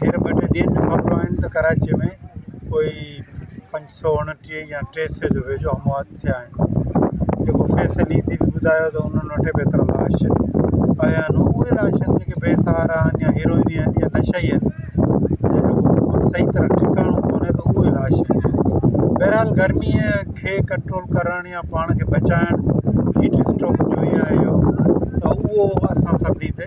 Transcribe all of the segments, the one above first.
هينئر ٻه ٽي ڏينهن کان خبرون آيون ته ڪراچيء ۾ ڪوئي پنج سؤ اڻٽيهه يا ٽي سئي جي ويجهو اموات ٿيا آهن جيڪو فيس علي جي به ٻڌايو ته انهن وٽ به ايترا لاش پيا آهن اهي لاش آهن جيڪي بي سهارا آهن يا هيروئني آهن يا نشئي آهن جنهن جو ڪو صحيح طرح ٺڪاڻو ڪونهي ته اهي لاش آهن بهرحال گرميء کي ڪنٽرول ڪرڻ يا پاڻ کي بچائڻ هيٽ اسٽروڪ جو ئي آهي اهو ته اهو اسان سڀني تي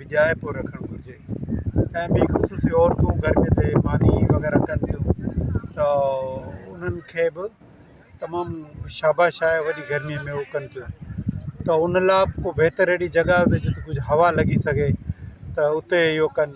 ويجهائي پيو رکڻ گهرجي ۽ ٻي خصوصي عورتون گرمي تي ماني وغيره ڪن ٿيون ته انهن کي به تمام شاباش آهي وڏي گرمي ۾ هو ڪن ٿيون ته ان لا ڪو بهتر اهڙي جڳهه هجي جتي ڪجهه هوا لڳي سگهي ته اتي اهو ڪن